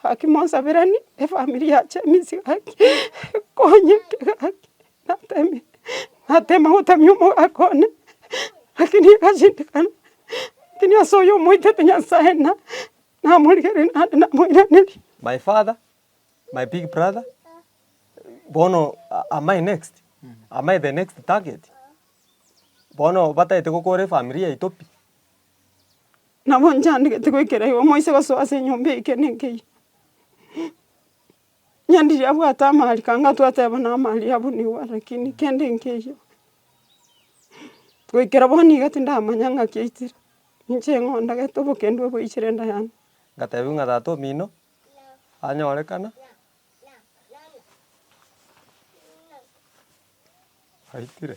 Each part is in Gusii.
Gaki monsabiranie efamiri ya Jemisi gaki, ekonyeke gaki, natemire natema gotamia omogaka one, lakini egashindikana, lakini ase oyo omoitete Nyasae na namorigereria naende namoiraneria. My father, my big brother, bono am I next? Am I the next target? Bono batagete gokora efamiri yaito pi. Nabo nchandegete goikera igo moise gosoa ase enyomba eye ekero nenkeiyo, onye ndiri abwate amaariko anga twateba na amaariko abunigwa lakini kende nkeiyo, goikera bono iga tindamanya ng'a kiaitire, ninche ng'a ondagete obokong'u obo oichire enda yane. Ngatebiwa ng'a tata omino anyorekana, aitire.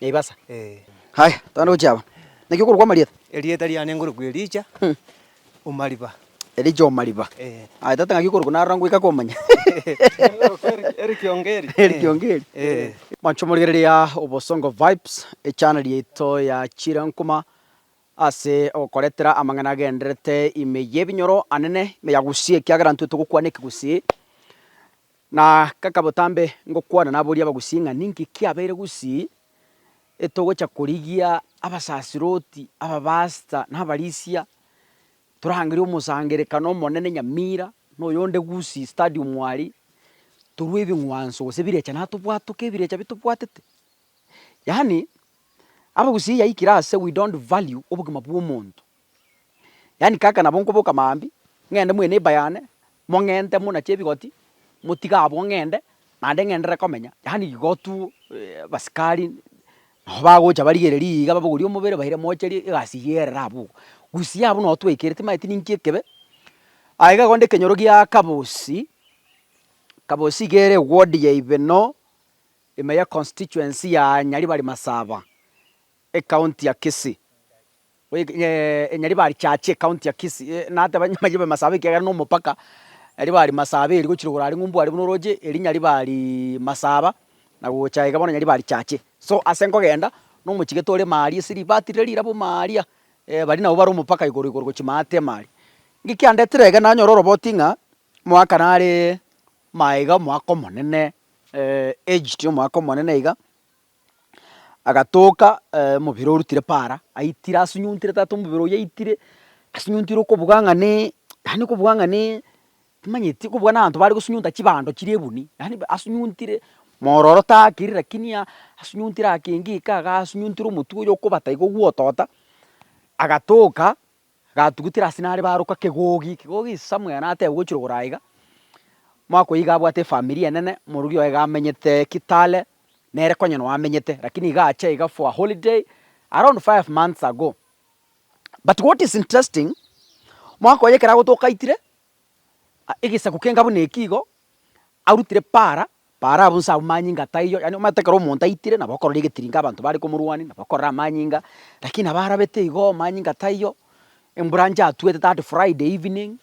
Naivasa. Haya, togende gochia aba. Naki okorokwa amarieta? Erieta riane nkorokwa Elija o mariba. Elija o mariba. Aye tata ng'aki okorokwa narora ngoika komanya. Eric Ongeri. Eric Ongeri. Mwancho morigereria Obosongo Vibes, echaneli yaito ya chirankoma ase ogokoretera amang'ana agendererete ime y'ebinyoro anene, ime ya gusii ekiagera intwe togokwana ekegusii. Na kaka botambe ngokwana naboria abagusii ng'a ninki kiabeire gusii etogocha korigia abasasiroti, ababasta, na abarisia, torangerie omosangerekano omonene nyamira, na oyonde gusii stadium aria, torue ebing'wanso gose ebirecha natobwatoke ebirecha bitobwatete. Yaani abagusii yaikire ase we don't value obogima bwa omonto. Yaani kaka nabo nkoboka mambia, ng'ende mwe neighbour yane, mong'ente muna chebigoti, motige abwo ng'ende, naende ng'enderere komenya, yaani igo tu abasikari nabo bagocha barigereria iga babogorie omobere baire mocherie egasi eyio erere abwo iga. Gusii abwo nabo twaikire timanyeti ninki ekebe, aye iga igo nde ekenyoro giaa Kabosi, Kabosi iga ere eward ya Ibeno, ime ya constituency ya Nyaribari Masaba. Ekaunti ya Kisii. Nyaribari Chachi ekaunti ya Kisii nateba nyaribari Masaaba ekiagera nomopaka Nyaribari Masaaba eri gochira igoro aria ng'umbu aria buna oroche eri Nyaribari Masaaba na gocha iga bono Nyaribari Chachi. So ase nkogenda nomochigete ore ime aria esiri batirire riraba ime aria baria nabo bare omopaka igoro igoro gochia ime ata ime aria. Nki kiandetire iga nanyora oroboti ng'a omwaka nare maega omwaka omonene aged omwaka omonene iga. agatoka omobere orutire para, aitire asunyuntire tata omobere oyio aitire, asunyuntire okobuga ng'a ne yaani okobuga ng'a ne timanyeti okobuga na abanto bare gosunyunta chibando chiria ebuni, yaani asunyuntire mororo taakire lakini aa asunyuntire akenge kaa igaa asunyuntire omotwe oyo okobata iga ogwotota, agatoka. Agatugutera ase nare baroka kegogi, kegogi Samuel nateba gochira ogoro aiga, omwaka oyio iga abwate efamiri enene, omorwori oye iga amenyete Kitale, nere konya no amenyete lakini iga acha iga for a holiday around five months ago, but what is interesting, omwaka oye ekero agotokaitire, egesaku kengabo na ekio igo, arutire para, para abwo nse abwo manyinga ataiyo, yaani omanyete ekero omonto aitire nabo okorora egetiringe abanto bare komorwania, nabo okorora amanyinga, lakini nabo arabete igo manyinga taiyo, embranch atwete that friday evening,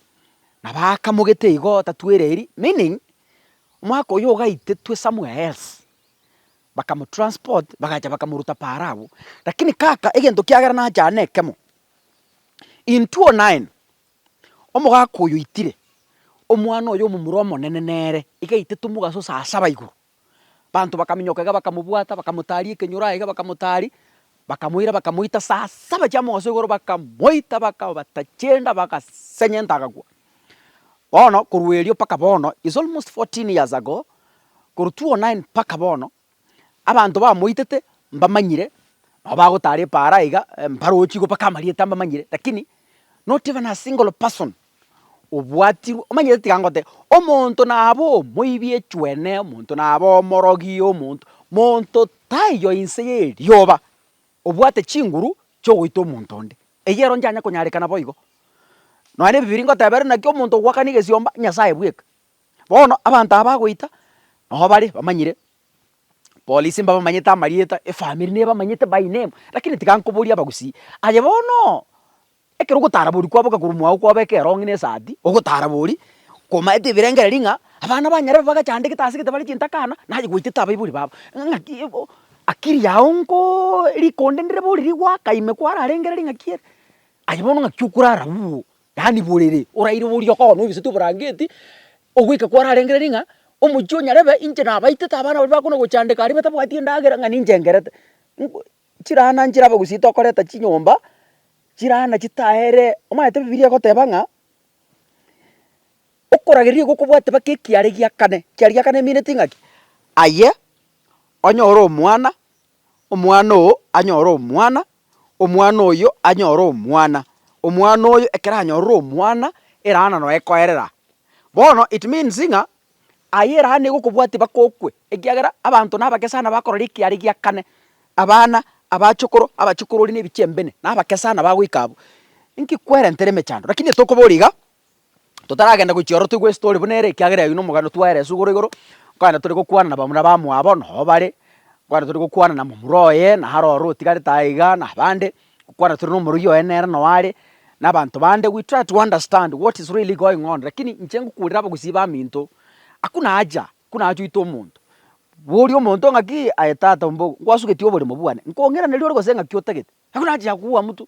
nabo akamogete igo tatwereri, meaning omwaka oyio ogaitetwe somewhere else, bakamotransport bagacha bakamoruta para abwo. Lakini kaka egento kiagera nache aa na ekemo, in 2009. Omogaka oyo oitire, omwana oye omomura omonene nere, igaitetwe mogaso saa saba igoro. Banto bakaminyoka iga bakamobwata, bakamotaria ekenyoro aye iga bakamotaria, bakamoira bakamoita saa saba chia mogaso igoro bakamoita bakabata chienda bagasenyenta agakwa. Bono korwa erio mpaka bono, it's almost fourteen years ago, korwa two o nine mpaka bono, abanto bamoitete mbamanyire, nabo bagotara epaara aiga mbarochi igo mpaka amarieta mbamanyire, rakini not even a single person obwatirwe, omanyete tiga ngoteba, omonto nabe omoibi echwene, omonto nabe omorogi, omonto monto taiyo inse ya erioba obwate chinguru chi'ogoita omonto onde, eyio ero nchanya konyarekana boigo. Nonya na ebibiri ngoteberwe naki omonto ogwakana egesiomba, Nyasaye bweka, Bono abanto aba bagoita, nabo bare bamanyire, polisi mbabamanyete amarieta, efamiri nebamanyete by name, lakini tiga nkoboria abagusii, aye bono ekero ogotarabori kwabo ogakora omwago kwabo eke erongi na esati, ogotarabori, komaete ebirengereri ng'a abana banyare babe bagachandegete ase egete bare chintakana, naye gwaetete abaibori babo, ng'aki ebo akiri yao nkooo rikonde ndire bori rigwaka ime kwararengereri ng'aki ere, aye bono ng'aki okorara bubu. Yaani borere oraire boria okogora ogesete oborangeti, ogoika kwararengereria ng'a omochie onyarebe inche nabaitete abana baria bakona gochandeka aria batabwati endagera ng'a ninche ngerete. Nko chirana nchirabe gose tokoreta chinyomba, chirana chitaere omanyete bibilia egoteba ng'a okorageria igo okobwate mpaka ekiare giakane, ekiare giakane emeaneti ng'aki? Aye onyore omwana, omwana oo anyore omwana, omwana oyio anyore omwana, omwana oyio ekero anyorire omwana, eraha naro ekoerera. Bono it means ng'a aye eraha nigo okobwatia bakokwe, ekiagera abanto na abake sana bakorora ekiara egia kane, abana, abachokoro, abachikororia na ebichie mbene, na abake sana bagoika abwo. Inki kwerentere emechando, rakini etokobori iga, totaragenda gochia ororo toigwe estory buna ere ekiagera eyio nomogani twaere as'igoro igoro, nkogenda tore gokwana na bamura bamwabo noo bare, nkogenda tore gokwana na momura oye naro ororo otigarete aye igaa na abande, gokwana tore na omorogi oye nere noo are, na abanto bande we try to understand what is really going on lakini inche ngokurera abagusii baminto, hakuna haja hakuna haja oite omonto, boria omonto ng'akii aye tata omba ogo, nkwasugeti oboremo bwane, nkong'iraneria ore gose ng'aki otagete, hakuna haja ya kuua mtu.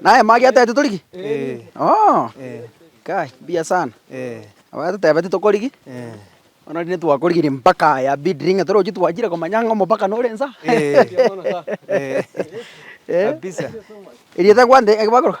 Naye magiate titori ki? Oo, kai, mbuya sana. Abagatoteba titori ki? Bono riria twakorigire mpaka aya bidiri ng'a toroche twachire komanya ng'a omopaka nore insa. Kabisa. Erio etakwanire ekero bakoroka?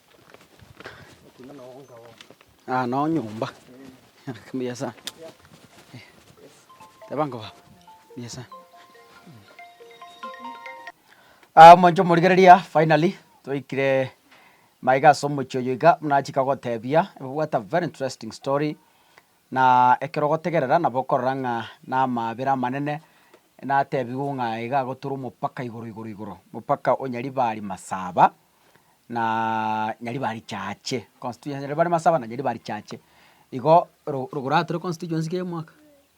Omonto omorigereria finally twaikire maiga ase omochie oyo iga buna achaka gotebia what a very interesting story na ekero ogotegerera nabo okorora ng'a na amaabera amanene natebigwe ng'a iga agoturo omopaka igoro igoro igoro, omopaka o Nyaribari Masaba. naaaa nyaribari richache constituency nyaribari bare masaba na nyaribari richache igo oro rogoro atore constituency kera omwaka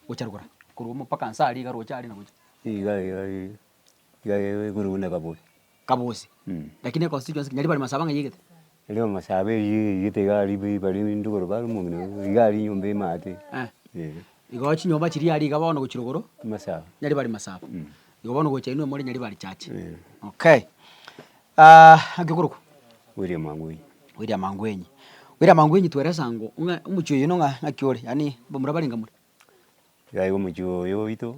gocha rogoro korwa omo mpaka nsa aria iga roche aria na gocha. Iga iga ii iga ii igoro buna kaboyi. Kabosi lakini econstituency ki nyaribari masaba ng'a yaigete. Nyaribari masaba eywo yaigete iga aria bi bare rinde igoro bare omong'ina oo iga aria enyomba emate eh. Igo chinyomba chiria aria iga bono gochia rogoro. Masaba. Nyaribari masaba igo bono gocha inwe more nyaribari richache okay. Gekorokwa William Angwenyi. William Angwenyi. William Angwenyi tweresa ng'o ng'a omochie oyo ng'a ng'aki ore, yaani mbamura bare nkamura. Iga iga omochie oyo oito,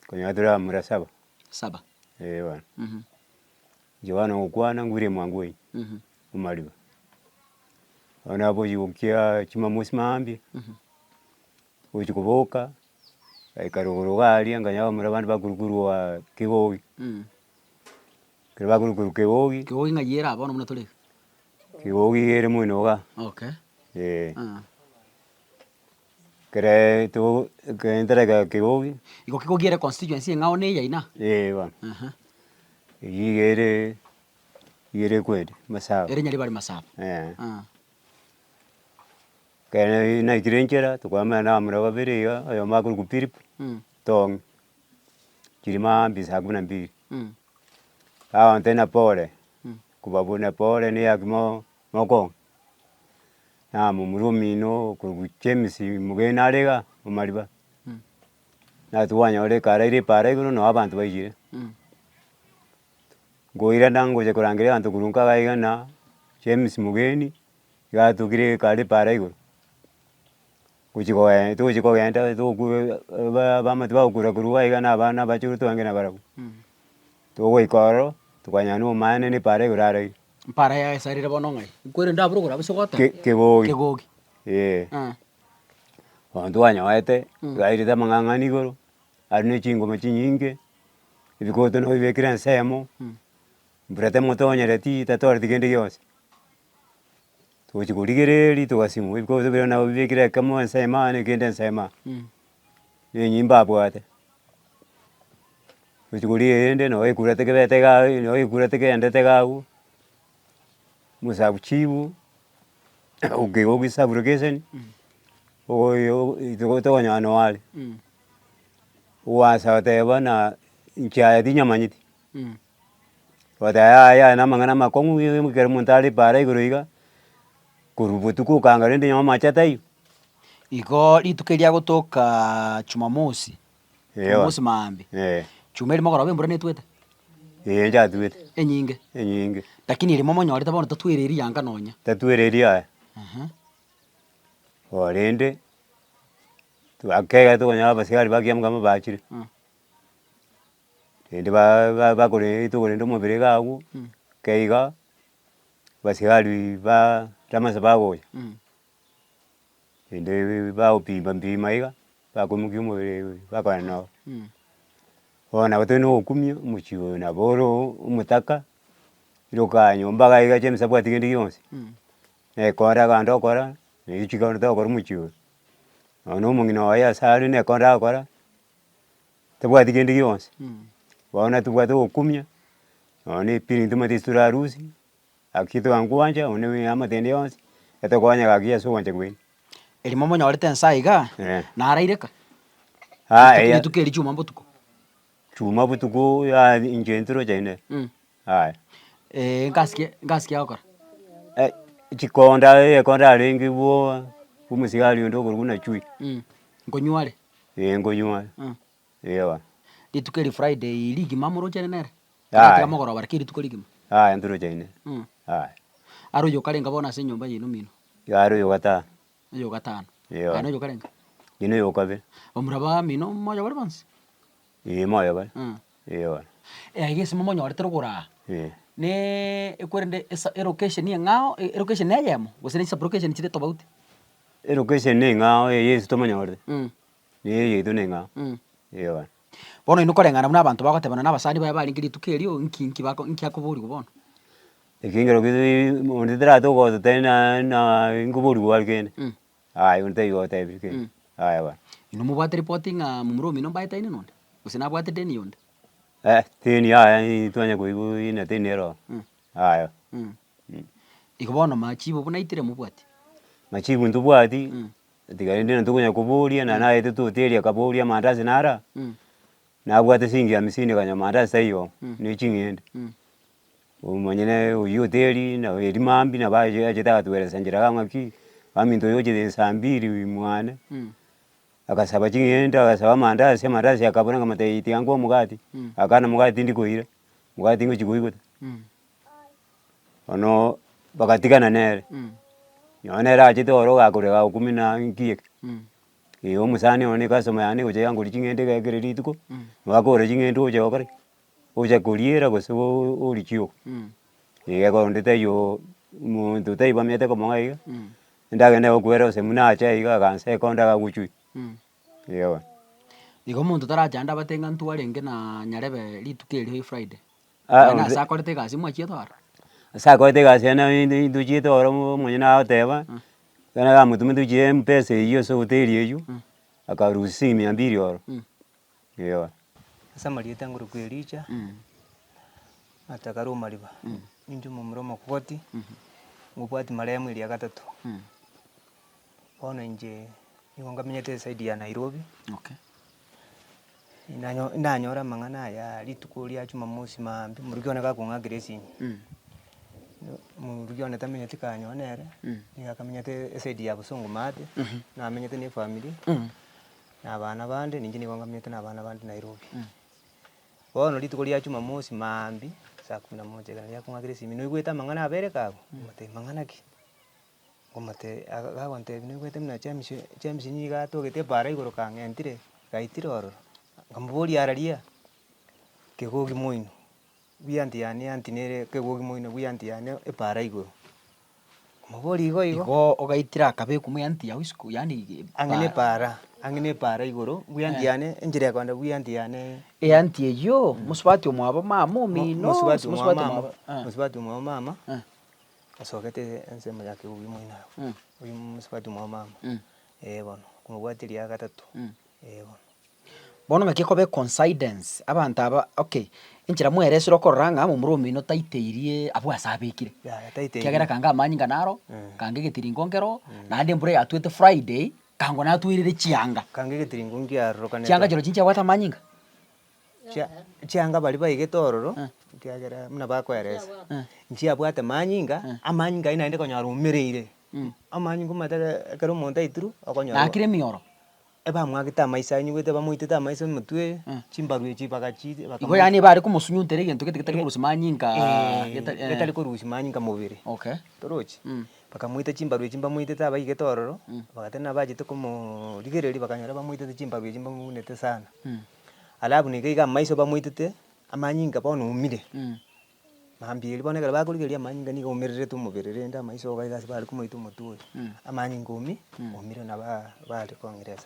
okonyora tore abamura saba. Saba. Eeh bono. Johana ogokwana ng'a William Angwenyi, omariba. Bono nabochia gokia chimamosi mambia, ogochia koboka, agaikara igoro iga aria, akanyora abamura bande bakorwa korwa kigogi. Ekero bakorwa korwa Kegogi. Kegogi ng'ai ere aa bono buna tore iga? Kegogi iga ere mwene iga. Okay. Ee. Aa. Ekere togo ekere ntareka Kegogi. Igo Kegogi ere constituency eng'ao na eyaino? Ee bono. Aha. Eyio iga ere, iga ere kweri Masaaba. Ere Nyaribari Masaaba. Eeh. Aa. Ekero naikire nchera, tokoemana na abamura babere iga, oyomo akorokwa Philip, Tong'i. chirima mbi saa kumi na mbili bagontebia na pole kobabuna pole neyaki mo mokong'a na momura omino korwa James mogeni nare iga omariba nasi kwanyora ekaraire epaara igoro noo abanto baiyire nkoirana ngochia korangeria abanto korwa nka iga iga na James mogeni iga atokire ekare epaara igoro. Gochi kogenda togochi kogenda togokure ba abamate bagokurakurwa iga na abana abachorwa twange na barabwo. Togoika ororo, tokanyora na omwene na epaara igoro are aria. Epaara yaye ase arire bono ng'ai? Nkwerende abure ogoro abwo ase ogoteba. Ke- kegogi. Kegogi. Eeh. Eeh. Bono twanyorete twairete amang'ang'ani igoro, are na chingoma chinyinge, ebikoto nabibekire ensemo, mbura temotonyereti tatoreti kende gionsi. Togochi korigereria rituko ase chinguru ebikoro bito bire nabo bibekire ekemo ensemo yaane kende ensemo aa. Na enyimba abwate, tochi korigereria rende nabo ekura tekebete iga aye nabo ekura tekeendete iga agwo, mosabu chibu okigwa ogisabure geseni ogoyia ogo rituko tokonyora noo are. Gwaasa goteba buna inche aya tinyamanyeti. Ogoteba yaya aya aya namang'ana amakong'u ng'ii kera omonto are paara igoro iga, korwa botuko okanga rende nyuma amache taiyo. Igoo rituko eria gotokaa chumamosi, Eeh ewa chumamosi maambia, eeh chuma erimo okoroba embura netwete, eeh ndatwete, enyinge, enyinge, lakini erimo monyorete bono tatwere eria yanga nonya. tatwere eria yaya. Ehe. Oo rende, twakegete okonyora abasigari bakiamokire bachire, Mm. rende ba- ba- bakore rituko rende omobere iga agwo, ekero iga, abasigari ba ramasa bagocha, rende bagompima mpima iga, bakoimokia omobere bakorana nao. Bono nabo toiyo nogokumia omochie oyo nabo ore oo omotaka, iroka nyomba iga iga chia emasabati kende gionsi, na ekonda agande okora, na echi kogenda togokora omochie oyo. Nonye na omong'ina oye ase are na ekonda agokora, tabwati kende gionsi, bono natobwate ogokumia, nonya na epirinti omanyete ase tore arusi, gaki togakwancha onde buna eamotende yonsi, etokonya gaki ase ogwancha kwaino. Erimo monyorete ense aiga igaa, Eeh. naraire ka? Aa Rituko- eya- rituko eri chuma botuko. chuma botuko aa inche intwe toroche inde, aya. nkasikia nkasikia gokora. Ai chikonda egekonda arenge bwoba, omosigari onde okorokwa na chui. Nkonywa are. Ee nkonywa Mm. eoa. Rituko eri Friday ii rigima morochene nere? Aye. Tigatiga mogoroba lakini rituko rigima. Aye nturochaine. Mm. Aye. Are oyio okarenga bono ase enyomba yaino omino? Are oyo ogataha. Oyo ogatano. Eoa. Aye noyo okarenga? Ninde oyo okabere. Omura bamino moyo bare bonsi? Ee, moyo bare. Mm. Ee, bono. Aya egesimo monyorete rogoraa, Ee. ne ekwerende esa elocation eng'ao, e- elocation neyemo, gose ne sub location chire tofauti? Elocation ne eng'ao eye ase tomonyorire, Mm. ne eye yaito ne eng'ao. Mm. Ee, bono. Bono oyio koreng'ana buna abanto bagotebana na abasani baye barenge rituko erio, nki nki bako nki akoborigwa bono? Ekiagera onde taratoka gototebia naende naaa nkoborigwa gware kende. Mm. Aye onde taiga otebire kei. Mm. Aye bono. Inwe mobwate ripoti ng'a momura omino mbaetaine nonde? Gose nabwate deni yonde? Eh, teni aye ii twanya koigwa ina teni ero oo. Mm. Aye. Mm. Mm. Igo bono machibo buna itire mobwati? Machibo ntobwati, Mm. tiga rende na tokonya koboria na naete toteria akaboria amandazi nara, Mm. nabwate siringi hamsini kanywa amandazi taiyo, Mm. ne ching'ende. Mm. Omanye naye oyio oteri na eri mambia nabo aye achete agatweresa njera iga ng'aki ominto oyo ochete esaa mbiri mwane agasaba ching'ende agasaba amandasi, amandasi akabora ng'a mataiti tiga ngwa omogati, akana omogati tindi koira, omogati ngochi koigwa ta. Bono bagatigana nere, nonye nere achete oro ogakore gagokumina nki eke, ee omosani one ecustomer yane egocha yangoria ching'ende iga ekero rituko, nabo akogora ching'ende ogocha gokora ki? ocha koriera gose origie oo, egekoo onde taiyo monto taiyo bamenyete komong'a iga, ndagende gokwera gose buna ache aye iga aganse ekonda gagochie, eeh bono. Igo omonto tarache ande abate ng'a ntwarenge naa nyarebe rituko erio ya efriday, Aa onde- ase akorete egasi mwachiete oro. Ase akorete egasi ende inde intochiete oro monyene agoteba, ekero namotumete gochia empesa eywo ase hoteli eywo, akarusia esegi mia mbiri oro, Eoa. Ase amarieta ngoroku Elija, atakare omariba, ninche omomura omokogoti, ngobwati maremu eria gatato. Bono inche nigo ngamenyete esaidi ya Nairobi, ndanyo- ndanyore amang'ana aya rituko ria Jumamosi maambia omoruki one gakong'akera esimi, no- omoruki one tamenyeti kanyoo nere, nigo akamenyete esaidi ya Bosongo Maate, namenyete na efamiri. na abana bande, ninche nigo ngamiete na abana bande Nairobi. Bono rituko ria Jumamosi maambia saa kumi na moja ekero riakong'akire esimi, noigwete amang'ana abere iga abwo? Ngotebia mang'ana ki? Ngomotebia aga gagontebia noigwete buna James James nigo atogete ebara igoro kang'entire, gaitire ororo. Nkamoboria araria? Kegoki moino. Buya anti yane, anti nere kegogi moino, buya anti yane epaara igoro. Omoborie igo igo. Igo ogaitire akabeku muya anti yao isiko, yaani Ang'e epaara. nepaara, ang'e nepaara igoro, buya anti yane, enchera ya kogenda buya anti yane. E anti eyio, mosubati omwabo mama Mo- omino. mosubati omwa mosubati mama, omwabo- Ah. mosubati omwa mama, Ah. asogete ensemo ya kegogi moino abwo. Oyio mosubati omwa mama. Eh bono, komobwati eria ya gatato. Eebo. Bono ng'aki ekobe coincidence, abanto aba okay, enchera mwaeresire okorora ng'a omomura omino taiteirie abwo ase abekire. Yaya taiteirie. Ekiagera kanga amanyinga inga naro, kanga egetiringo nkero, naende embura eyatwete Friday, kangwe natweirire chianga. Kanga egetiringo nkiarorokanete. Chianga chirochio nchiabwate amanyinga? Chia chianga baria baigete ororo, ekiagera buna bakoeresa, nchiabwate manyinga, amanyinga ayio naende konyora omereire, amanyinga omateke ekero omonto aituru, okonyora. Nakire emioro. Ebamwagete amaiso ayio nyigwete bamoitete amaiso omotwe chimbaru echi bagachi Igo yaani ebe are komosunyuntera egento gete getari korusia manyinka geta eh. getari korusia manyinka mobere Okay. torochi Mm. bakamoita chimbaru echi mbamoitete abaigete ororo bagateba nabachete komo rigereria bakanyora bamoitete chimbaru echi mbamounete sana alafu niga iga amaiso bamoitete amanyinka bono omire. Mambiiri bono ekero bakorigereria amanyinga nigo omererete omobere rende amaiso iga ase bare komoita omotwe oyo, amanyinga omie omire nabo aa bare kong'iresa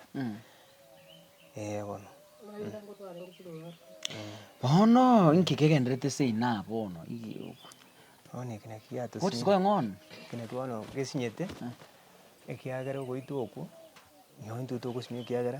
eh bono. Bono inki kegenderete ase inaa bono igioo? Bono eke naki giatosire. What is going on? Eke naki bono gesinyete, ekiagera ogoitwa okwo, nonye intwe togosimia ekiagera.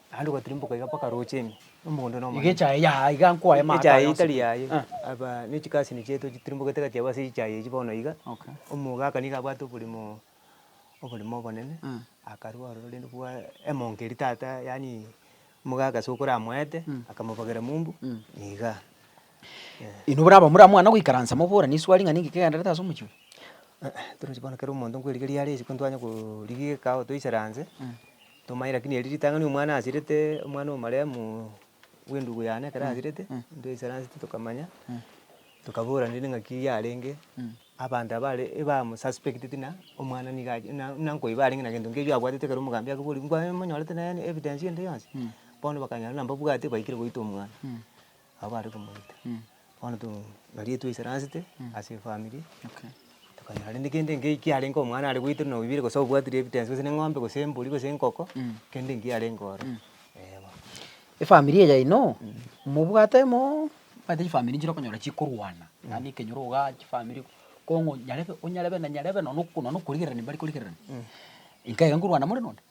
Naende gotirimuka iga mpaka rocheni, omogondo na omonene. Iga echaye yaye, iga nkoe amaato Echaye aya etari onsibie. yaye, Ah. aba ne chikasini chiaito chitirimbogete gati yabo ase echaye echio bono iga. Okay. Omogaka nigo abwate oborimo, oborimo obonene, akarua ororo rende bwa emonke eria tata yaani omogaka ase okoramoete, akamobogera mumbu, nigaa. Inwe buna abamura mwana goikaransa moborane iswari ng'a ninki kegendererete ase omochie oyo. Torochi bono kera omonto nkwerigeria are isiko ntwanye korigeka ao toisaranse, tomaye rakini eri ritang'ani omwana asirete, omwana omaremu bw'endugu yane ekero asirete, ntoisaranseti tokamanya, tokaborana rende ng'aki yarenge, abanto abare ebamu suspecteti ng'a omwana niga achi ng'a buna nkoiba arenge na gento nkeiyo abwatete ekero omogambi akobori nkwaa monyorete nonye evidence ende yonsi? Bono bakanyora buna mbabwate baikire goita omwana. Abwo bare komoita, bono to riria twaisaransete ase efamiri, tokanyora rende kende nkei kiarenge omwana are goita buna oibire gose obwatire ebitensi gose na eng'ombe gose embori gose enkoko, kende nkei kiarenge oro, eh bono. Efamiri eye yaino, mobwate mooono omanyete chifamiri nchire okonyora chikorwana, yaani ekenyoro igaa chifamiri kong'u nyarebe onyarebe na nyarebe nonya nokorigererania mbari korigererania, inkaiga nkorwana moren'onde.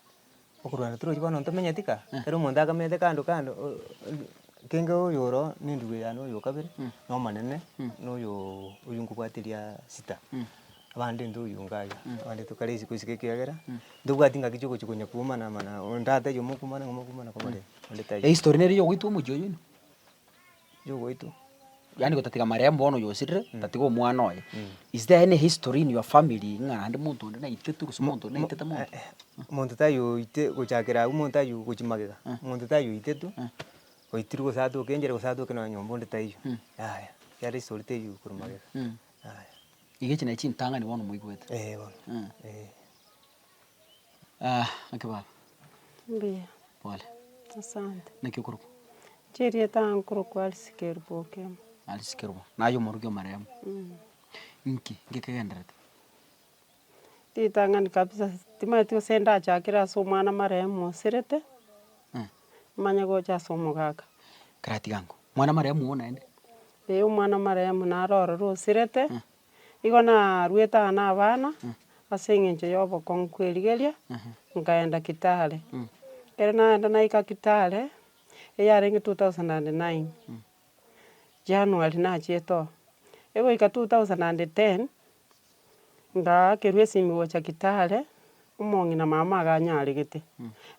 Okorwana torochi bono ntomenyeti kaa, ekero omonto akamete kando kando kenge oyo oroo nenduwe yane oyo okabere, na omonene, na oyoo oywo nkobwateria sita, abande intwe oywo iga iga, abande tokare isiko isiko ekiagera ntobwati ngaki chia ogochi konya kuumana mana oo, onde ata oyomo okumana ng'o mokumana komorere onde taiyo. Ehistory nere eyogoitwa omochie oyoino. yogoitwa. Yaani gotatiga marehemu bono oyosirire mm. tatiga omwana oye mm. is there any history in your family ng'a naende monto onde naitete gose monto onde naitete monto eh, eh, monto tayoite gochakera agwo monto ayo gochi magega eh. monto tayoitetwe oitirwe gose atoke enchera gose atoke nonya nyomba onde taiyo mm. yaya yare history teiyo korwa magega mm. yaya iga echi nachi chintang'ani bono moigwete eh bono eh Ah, naki baba. Mbuya. Pole. Asante. Naki okorokwa? Chirieta nkorokwa Alice Kerubokemo. Alice Kerubokemo. Naye omoruki o marehemu. Mm. Inki ngekegenderete? Ritang'ani kabisa, timanyeti gose ndachakere ase omwana marehemu osirete, Eh. manye gocha ase omogaka. Keratiga ango. Mwana marehemu ogo naende? Eh, omwana marehemu naro ororo osirete. Igo naruete aa nabana ase eng'encho y'obokong'u kw'erigeria, nkaenda Kitale. Ekero naenda naika Kitale, eyarenge two thousand and nine, January nachiete oo. Egoika two thousand and ten, ngaakerwa esimi gocha Kitale, omong'ina mama iga anyaregete.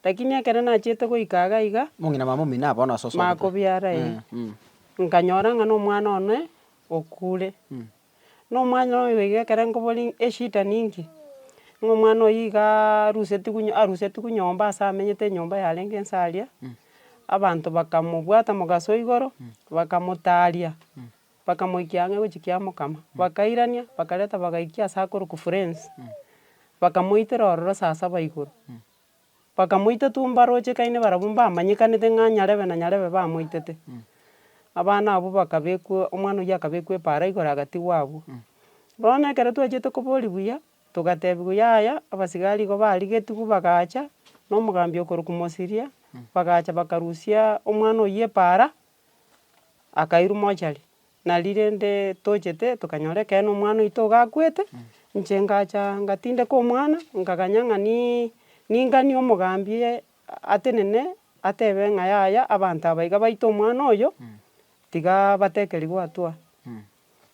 Lakini ekero nachiete goika iga iga. Omong'ina mama omino nabo bono ase osoete. Makobiara ee. Nkanyora ng'a na omwana one, okure. Na omwana oye iga ekero nkobori eshida ninki, ng'a omwana oye iga arusetigwe nyo- arusetigwe nyomba ase amenyete enyomba yarenge nse aria, abanto bakamobwata mogaso o igoro, bakamotaria, bakamoikia ang'e gochia kiamokama, bakairania, bakareta bagaikia ase akorokwa friends, bakamoitera ororo saa saba igoro. Bakamoita tumbo arochekaine barabwo mbamanyekanete ng'a nyarebe na nyarebe bamoitete. Abana abwo bakabekwa, omwana oyio akabekwa epaara igoro agatigwa abwo. Bono ekero twachete koboria buya, togatebiwa yaya, abasigari igo barigetigwe bagacha, na omogambi okorokwa Mosiria, bagacha bakarusia omwana oyio epaara, akairwa mochari, nari rende tochete tokanyora ekero na omwana oito iga akwete, inche ngacha ngatindeka omwana, nkaganya ng'a niiii ninganie omogambi oye atenene, atebe ng'a yaya abanto aba iga baita omwana oyo, tiga batekerigwa atua,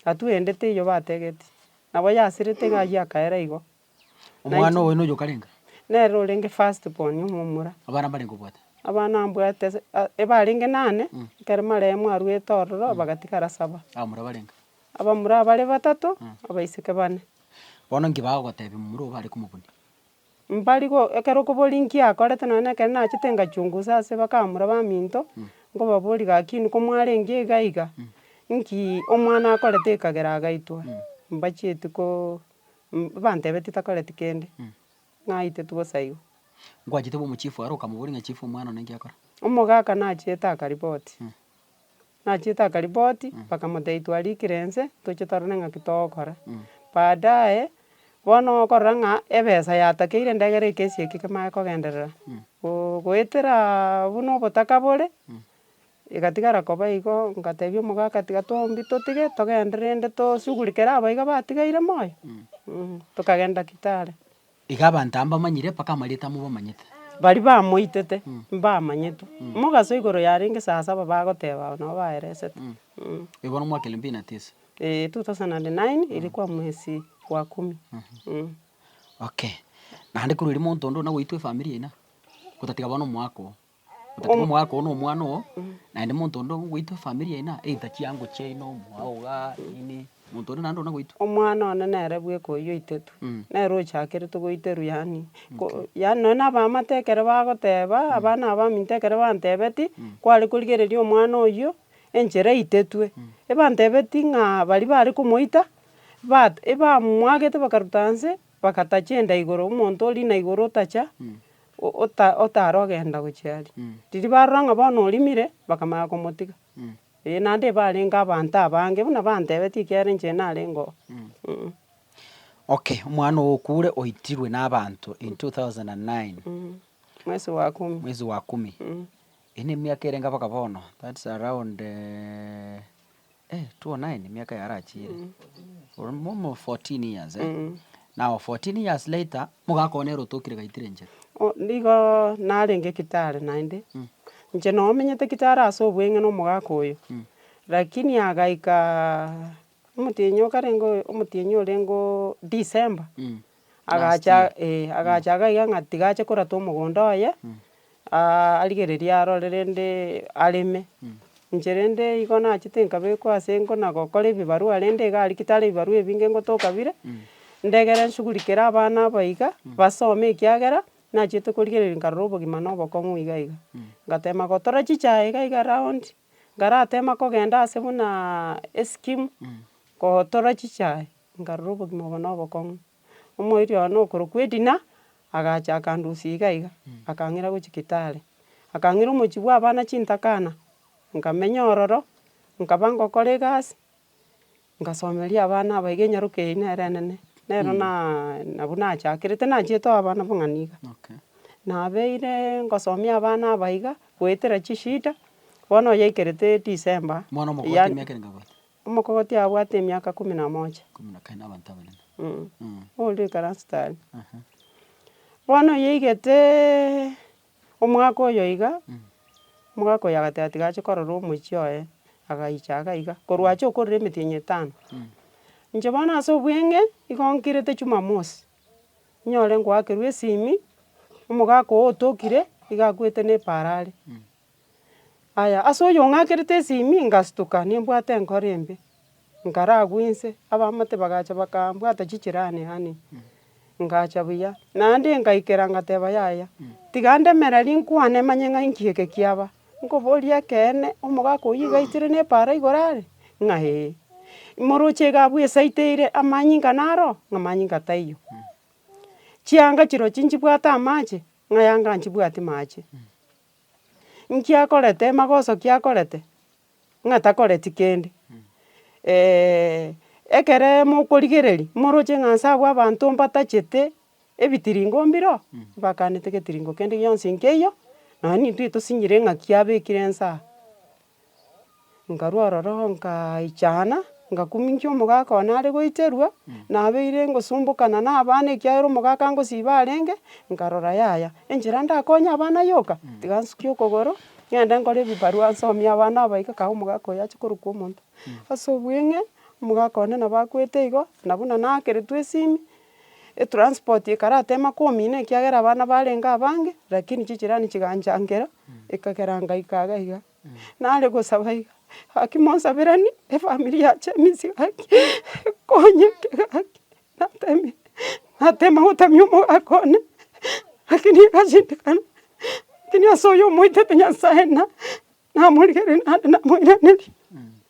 atua ende teiyo bategeti, nabo yasirete iga aywo akaera igo. Omwana oboyio noyoka arenge? Nere orenge first born omomura. Abana mbarenge obwate? Abana mbwate ase a- ebarenge nane, ekero marehemu arwete ororo, bagatigara saba. Abamura barenge? Abamura bare batato, abaiseke bane. Bono nki bagogotebia momura obo are komobuni? Mbari go- ekero okoboria nki akorete nonye na ekero nachete ngachungusa ase bakamura baminto, nkobaboria gaki nko mwarenge iga iga, nki omwana akorete ekagera agaitwa? Mbachieti ko- Mbantebeti takoreti kende, naiteti gosaigwa. Ngwachete bwa omochifu aro okamoboria ng'a chifu omwana one enki akore. Omogaka nachiete akaripoti. Nachiete akaripoti, bakamotebia twarikire ense, toche torore ng'aki togokora. Baadaye, bono okorora ng'a ebesa yatakeire endagera eke esie eke kemanye kogenderera, go- goetera buna obotaka bore. Igatigara koba igo, ngatebia omogaka, tiga twaumbie totige, togende rende tosugurekere aba iga batigaire moyo, tokagenda Kitale. Iga abanto aya mbamanyire, mpaka amarieta amo mbamanyete. Baria bamoitete, mbamanyetwe, mogaso igoro yarenge saa saba bagoteba nabo baeresete. Eye bono omwaka elfu mbili na tisa. Eeh two thousand and nine, ilikuwa mwesi wa kumi. Okay, naende korwa erio monto onde onagoitwa efamiri yaino, gotatiga bono omwaka oo. Obotuko omogaka oo na omwana oo, naende monto onde ogoitwa efamiri yaino aa, either chiango chiaino, omwao igaa, nini, monto onde naende oyio nagoitwa. Omwana one nere bweka oyio oitete, nere ochakerete goiterwa yaani ko yaani nonya na abaamate ekero bagoteba, abana abaminto ekero bantebeti, kware korigereria omwana oyio, enchera eitetwe, ebantebeti ng'a baria bare komoita, bat ebamwagete bakaruta inse, Bagatacha enda igoro, omonto o riina igoro otacha, otare ogenda gochia aria. Riria barora ng'a bono orimire, bakamanya komotiga. Ee, naende barenge abanto abange buna bantebetie ekiagera inche narenge oo. Okay, omwana oo okure oitirwe na abanto in two thousand and nine. Mwezi wa kumi. Mwezi wa kumi. Eye nemiaka ere inga mpaka bono, that's around two o nine emiaka eye arachiire, momo fourteen years eh, now fourteen years later, mogaka one ere otokire gaitire enchera. Oh nigo narenge kitare naende, inche no menyete kitare ase obweng'e na omogaka oyo, lakini agaika omotienyi okarenge oyo omotienyi orenge oo December. Agacha last year. eh, agacha iga iga ng'a tiga ache korata omogondo oye, aa- arigereria arore rende areme. Inche rende igo nachete nkabekwa ase engo na gokora ebibarua rende iga aria ki tari ebibarua ebinge ngotoka bire, ndegere nshughulikere abana aba iga, basome ekiagera, nachiete korigereria nkarora obogima na obokong'u iga iga. Ngatema gotora chichae iga iga round, nkaratema kogenda ase buna escheme, gotora chichae. nkarora obogima obo na obokong'u. Omoerio one okorokwa Edina, agacha akandusia iga iga, akang'ira gochia Kitale. Akang'ira omochie bwa abana chintakana, nkamenya ororo, nkaba ngokora egasi, ngasomeria abana aba iga enyaroka eye nere enene. Nero na nabwo nachakerete nachiete oo abana abang'ani iga. Nabeire ngosomia abana aba iga, goetera chishida, bono oyaikerete December, mwana omogima eke nkagoita. Omokogoti abwate emiaka ikomi na mocha. Oria oikaransete aria. Bono oyeigeteeee omwaka oyo iga, omogaka oyo agateba tiga ache korora omochie oye, agaicha iga iga, korwa ache korora emetienyi etano. Inche bono ase obweng'e, nigo nkirete jumamosi, nyore ngoakerwa esimi, omogaka oyo otokire, nigo akwete na epara are. Aya, ase oyong'akerete esimi ngastuka nimbwate enkoro embe, nkaragwe inse, abamate bagacha bakambwata chichirani aane, ngacha buya. Naende ngaikera ngateba yaya, tiga ndemere rinkwane manye ng'a inki eke kiaba. Nkoboria ekeene, omogaka oyio iga aitire na epaara igoro are? Ng'a ee. Imoroche iga abwo esaiteire, amanyinga naro oo? Ng'a amanyinga taiyo. Chianga chirochio nchibwate amache? Ng'a yanga nchibwati mache. Inki akorete amagoso ki akorete, ng'a takoreti kende, ekere mokorigereria, moroche ng'a nse abwo abanto mbatachete ebitiringo mbireo, mbakanete getiringo kende gionsi nkeiyo, nonya nintwe tosinyiire ng'aki abekire nse aa. Nkarwa ororo nkaichana, ngakumincha omogaka one are goiterwa, nabeire ngosumbokana na abana ekiagera omogaka ngosiba arenge, nkarora yaya, enchera ndakonye abana yoka, tiga nsuke okogoro, ng'ende nkore ebibarua nsomie abana aba iga kae omogaka oyo ache korokwa omonto. Ase obweng'e, omogaka one nabo akwete igo, na buna naakeretwe esimi. Etransport ekaratema komina ekiagera abana barenge abange, rakini chijirani chiganchangera, ekagera ngaika iga iga. Nare gosaba iga, gaki monsaberanie efamiri yache eminsi gaki, ekonyeke gaki, natemire natema gotamia omogaka one, rakini egashindikana, rakini ase oyo omoitete Nyasae na, namorigereria naende namoiraneria.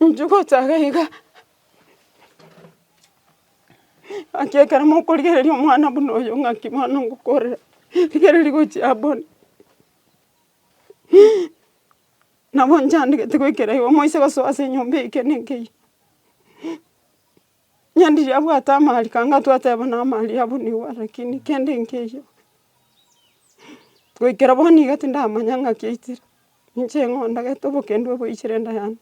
Inche gochaka iga, ng'aki ekero mokorigereria omwana buna oyo ng'aki bono ngokorera, rigereria gochia abwo. Nabo nchandegete goikera igo, moise gosoa ase enyomba eye ekero nenkeiyo, onye ndiri abwate amaariko anga twateba na amaari abwo nigo are lakini kende nkeiyo, goikera bono iga tindamanya ng'aki aitire. Inche ng'o ndagete obokendu obo oichire enda yane?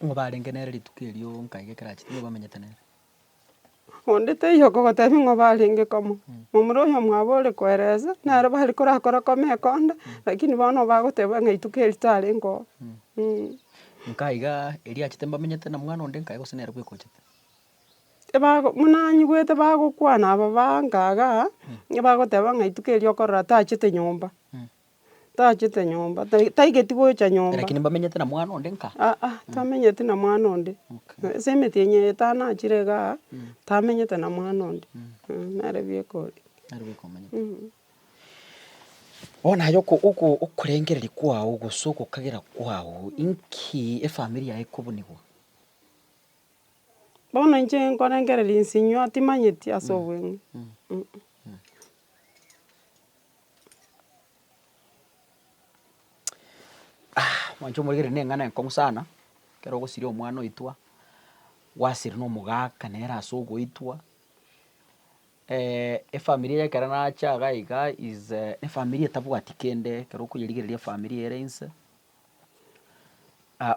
Nigo barenge nere rituko erio nkaige ekero achete nigo bamenyete nere. Onde taiyo okogotebia ng'a barenge komo, momura oyo mwabo ore koeresa, naro bare korakora kome ekonda, lakini bono bagoteba ng'a rituko eri tarenge oo. Nkaiga erio achete mbamenyete na mwana onde nkaigose nere bweeka ochete. buna anyigwete bagokwana aba bangaga, nigo bagoteba ng'a rituko erio okorora tachete nyomba, tachete nyomba, tai taigeti gocha nyomba. Lakini mbamenyete na mwana onde nkaa. Aa, tamenyeti na mwana onde. Okay. Ase emetienyi eye etano achire igaa, tamenyete na mwana onde. Nere bieka oria. Nere bieka omanyete. Bono aye oko- oko- okorengereria kwao gose ogokagera kwao, inki efamiri yago ekobunigwa? Bono inche nkorengereria inse inyuo atimanyeti ase obweng'e mwancha omoregere ne eng'ana enkong'u sana, ekero ogosiria omwana oitwa, gwasire na omogaka nere ase ogoitwa, efamiri eye ekero nacha iga iga is a efamiri etabwati kende ekero okoyerigereria efamiri ere inse,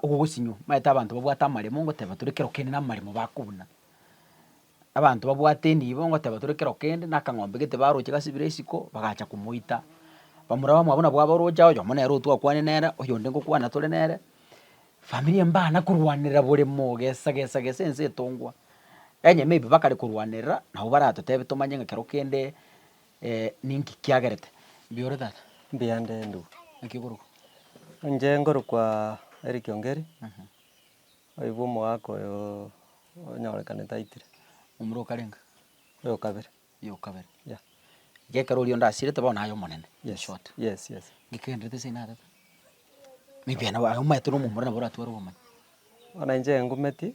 ogogosinwa, omanyete abanto babwate amaremo ngoteba tore kero kende namaremo bakobuna. Abanto babwate enibo ngoteba tore kero kende na akang'ombe gete baroche gasibire isiko, bagacha komoita, bamura bamwe abwo nabo aboroche oyomo nere otwakwane nere, oyonde ngokwana tore nere, familia mbana korwanerera bore moo gesa gesa gesa ense etongwa. Onye maybe bakare korwanerera, nabo baratotebe tomanye ng'a kero kende Ninki kiagerete? Mbuya ore, tata. Mbuya nde, ndugu. Naki okorokwa? Inche nkorokwa Eric Ongeri, oyobo omogaka oyo onyorekanete aitire. Omura o karenga? Oyo kabere. Oyo kabere. Yeah. Iga ekero oria onde asirete bono aye omonene, in short. Yes, yes. Naki ogendererete ase inaa, tata? Maybe aye omanyete na omomura nabo oratware obomani. Bono inche engometie.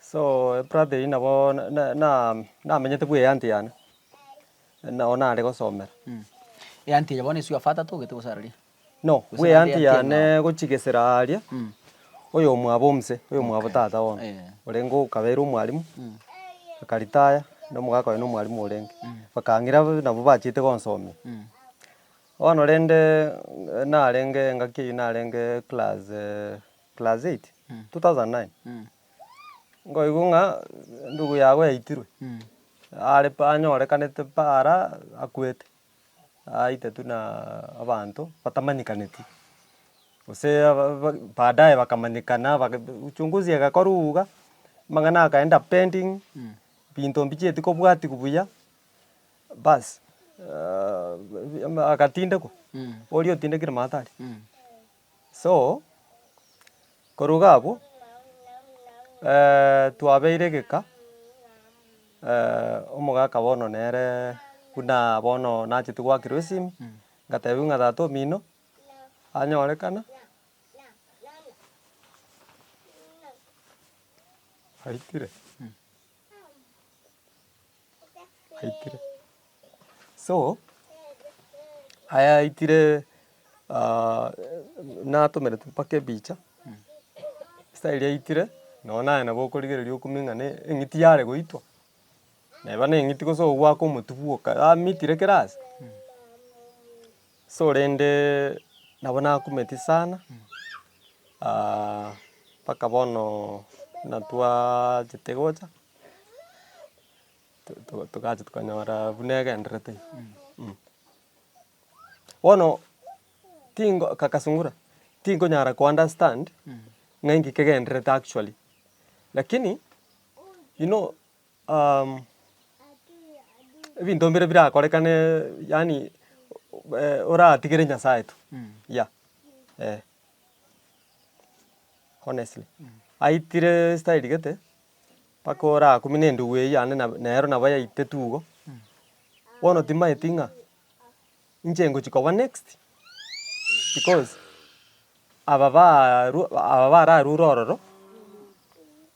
So eprate eyio nabo namenyete bwa eanti yane, nao nare gosomera. Eanti eye bono eswe afaa tatogete gose araria? No, bwa eanti yane gochia gesera aaria, oyomwabo omse, oyomwabo tata bono, orenge okabeire omwalimu, akaritaya, na omogaka oye nomwalimu orenge, bakang'ira nabo bachiete gonsomia. Bono rende narenge engaki eyio narenge class. class eight, two thousand and nine, nkoigwa ng'a endugu yago yaitirwe, are pa anyorekanete pa ara akwete, aite tuna abanto batamanyekaneti, gose aba ba baadaye bakamanyekana baka uchunguzi egakorwa iga, amang'ana akaenda pending, binto mbichieti kobwatigwa buya, baas agatindekwa, oria otindekire mato aria. So, koruga abwo, twabeire egeka, omogaka bono nere buna bono nacheti goakirwa esimi, ngatebiwa ng'a tata omino anyorekana, aitire. Aikire, so aya aikire natomerete mpaka ebicha, esaa eria aikire nonye naye nabo okorigereria okumia ng'a ne- eng'iti yare goitwa, neba neng'iti gose ogwaka omotubu bwoka yamitire kera ase. Sorende nabo nakumeti sana, mpaka bono buna twachete gocha togacha tokanyora buna egenderete ime. Bono tingo kaka sungura, tinkonyara ko understand ng'a inki kegenderete actually, lakini you know. ebinto mbire birakorekane yaani oratigere Nyasaye tu yeah eh honestly. Aitire estyle gete mpaka orakumine endugu eywo yane nero nabo yaitire tu igo, bono timanyeti ng'a inche ngochia koba next because aba barwa aba bararure ororo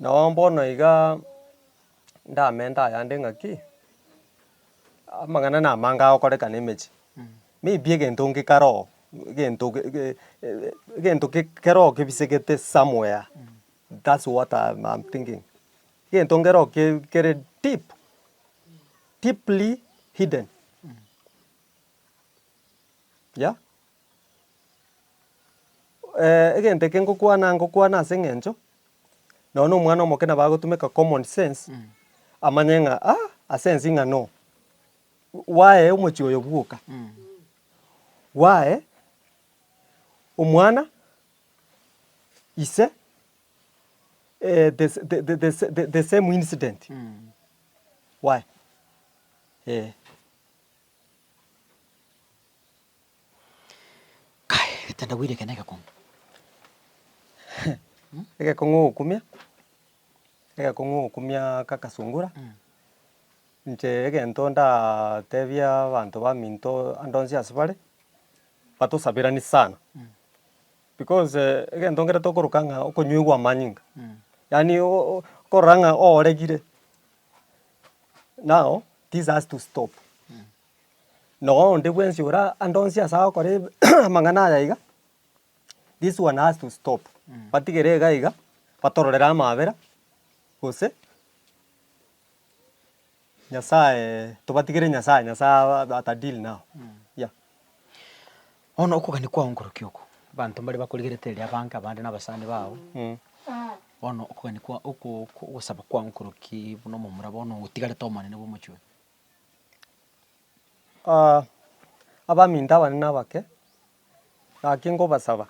Nao bono iga ndamenta ayande ng'aki, amang'ana namange agokorekana emechie, maybe egento nge kare oo, egento egento kere oo kebisegete somewhere, that's what am thinking, egento kere oo kere deep, deeply hidden, yeah. egento eke ngokwana ngokwana ase eng'encho, nonye na omwana omoke nabo agotumeka common sense, amanye ng'a ah, ase ense ng'a no, gwaye omochie oyo bwoka, gwaye omwana, ise, the sa- the- the- the- sa- the same incident gwaye, eh. Kai, tindagwire ekero negekong'u. Egekong'u ogokumia, egekong'u ogokumia gagasungura, inche egento ndatebia abanto baminto ande onsi ase bare, batosaberanie sana, because egento ekere tokoroka ng'a okonywegwa amanyinga, yaani okorora ng'a oregire, now this has to stop. Noonde bwensi ora ande onsi ase agokora amang'ana aya iga, this one has to stop, batigere iga iga, batororere amaabera, gose Nyasaye tobatigere Nyasaye, Nyasaye aba at a deal now, yeah. Bono okogania kwao nkorokia oko, abanto mbare bakorigerete erio abange abande na abasani bago, bono okogania kwao oko oko ogosaba kwao nkorokia buna omomura bono otigarete omonene bwa omochie oyo. abaminto abanene abake, gaki nkobasaba,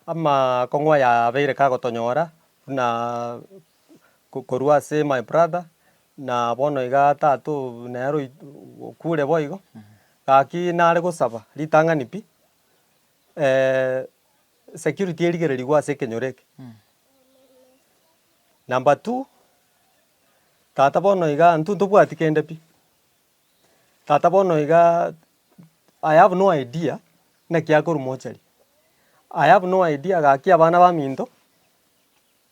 amakong'u ayabeire kagotonyora buna korwa ase my brother na bono iga tato nero okure boigo, gaki nare gosaba ritang'ani pi. Security erigererigwe ase ekenyoro eke. Number two, tata bono iga intwe ntobwati kende pi. Tata bono iga I have no idea naki akorwa mortuary. I have no idea gaki abana baminto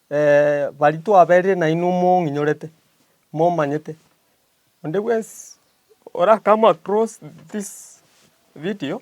baria twaberire nainwe mong'inyorete, momanyete. Onde bwensi ora come across this video.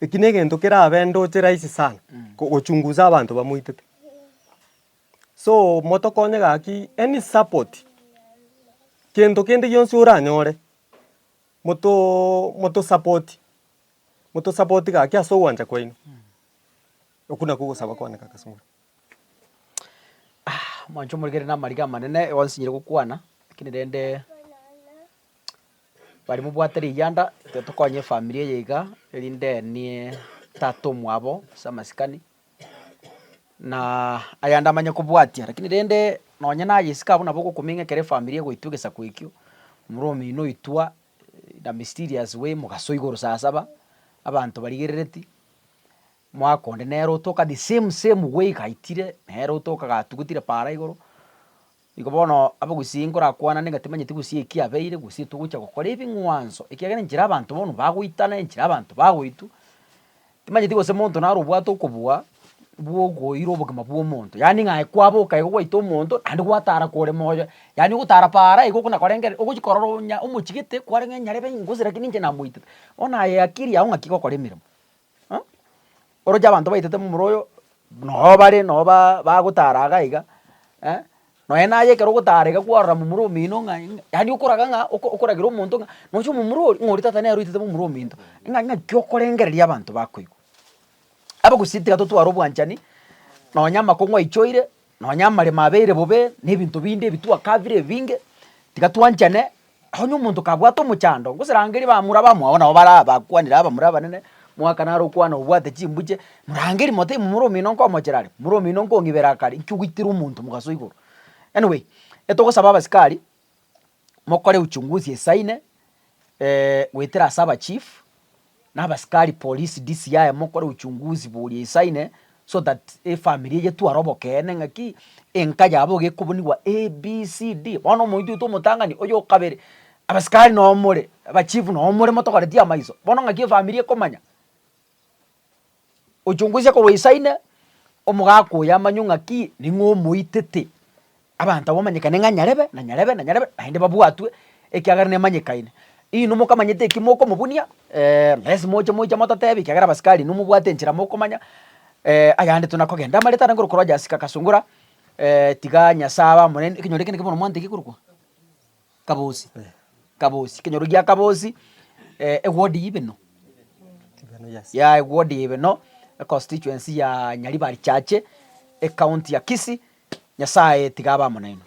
Eki negento kerabe ndoche rahisi sana gochunguza abanto bamoitete. So motokonye gaki any support gento kende gionsi oranyore moto support moto support gaki ase ogwancha kwaino. Okwo nakwo ogosaba kwane kaka Sungura. Mwancho omorikere namariga amanene igo nsinyire gokwana, lakini rende. Bari mobwate riyanda intwe tokonye efamiri eye iga erinde nie tata omwabo ase amasikani, na ayande amanye kobwatia lakini rende nonye na aye isiko abwo nabo ogokomenya ekero efamiri egoitwa egesaku ekio, omorwa omino oitwa in a mysterious way mogasoa igoro saa saba, abanto barigerereti, omwaka onde nere otoka the same same way gaitire, nere otoka gatugutire paara igoro. Nigo bono abagusii nkorakwanane ng'a timanyeti gusii eki abeire, gusii togocha gokora ebing'wanso, ekiagera enchera abanto bono bagoitana, enchera abanto bagoitwa, timanyeti gose monto naro obwate okobua bwokoira obogima bw'omonto, yaani ng'a aye kwaboka igo gwaita omonto naende gwatara kore moyo, yaani ogotara paara igo okona korengereri ogochi korora onya omochigete, kwarenge nyarebe ingosi lakini inche namoitete, bono aye akiri yao ng'aki gokora emeremo. Aa oroche abanto baitete momura oyo noo bare noo baa bagotara iga iga eh, nonye naye ekero ogotara iga kwarora momura omino ng'a ing'a yaani okoraga ng'a oko okoragera omonto ng'a nocha omomura oria ng'a oria tata nere oitete momura ominto ng'a ng'aki okorengereria abanto bakoigwa. Abagusii tiga totware obwanchani nonye amakong'u aichoire Nonya amaremo abeire bobe, na ebinto binde ebitwaka bire ebinge, tiga twanchane. Onye omonto kabwate omochando, ngoserangerie bamura bamwabo nabo bare abakwanire abamura abanene, mwaka naro okwana obwate chimbuche, morangerie mote momura omino nkomochera are, momura omino nkong'ibera akare, inki ogoitera omonto mogaso igoro? Anyway, etogosaba abasikari, mokore uchunguzi esaine, goetera ase abachief, na abasikari polisi DCI mokore uchunguzi boria esaine, so that efamiri eye tware obokeene ng'aki enka yabo iga ekobunigwa ABCD. Bono omonto oito omotang'ani, oyo okabere, abasikari noo more, abachief noo more motogoretie amaiso, bono ng'aki efamiri ekomanya. Ochungusie korwa isaine omogaka oyo amanywe ng'a ki, ning'o omoitete, abanto abwo bamanyekane ng'a nyarebe na nyarebe na nyarebe, naende babwatwe ekiagera nemanyekaine. Inwe mokamanyete eki mokomobunia, mbese moche moiche mototebi ekiagera abasikari inwe mobwate enchera mokomanya, ayande tuna kogenda. Amareta aria nkorokoro Jasika Kasungura, tiga Nyasaye abe amo naende, ekenyoro eke neke bono mwantegia korokwo. Kabosi, kabosi, ekenyoro gia kabosi ewodi ya ibeno, ya ewodi ya ibeno, econstituency ya Nyaribari chache, ecounty ya Kisii, Nyasaye tiga abe amo nainwe.